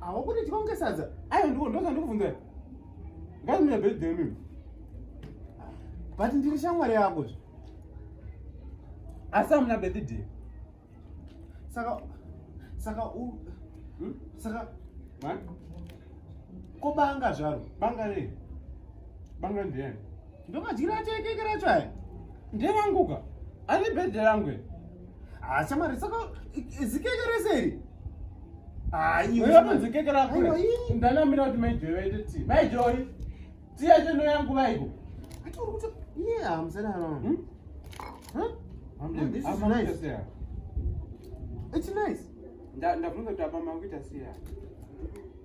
Awo kuti tikonge sadza. Ayo ndiko ndoka ndikuvunza. Ngai mune bed dem mimi. But ndiri shamwari yako zve. Asa mna bed dem. Saka saka u hmm? saka ma ko banga zvaro banga re banga ndiye ndoka jira chekekera chai ndiye ranguka ari bed rangu Ah, shamari saka zikeke rese iri aiweatonzikekera kure ndanamira kuti maijoyi vaite ti maijoyi ti yacho no yangu vaiko ndabvunza kuti apa mangu ita siya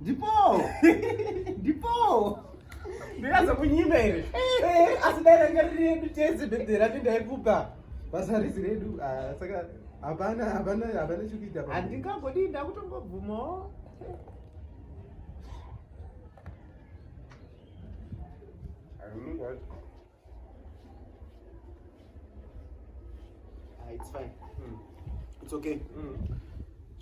Ndipo. Ndipo. Ndikaza kunyima here. Eh, asi dai ranga riri redu tese bebe rati ndaikupa. Basa risi redu. Ah, saka hapana hapana hapana chikuita. Handingagodi ndakutongobvumawo. I don't know what. Ah, it's fine. Mm. It's okay. Mm.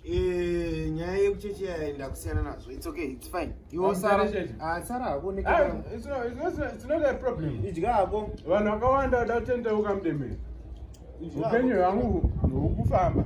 Eh, nyaya yekucheche yaenda kusiyana nazvo it's okay it's fine iwosara ah, hako idya hako vanhu vakawanda vada kutendeuka mudemere upenyu hwangu hukufamba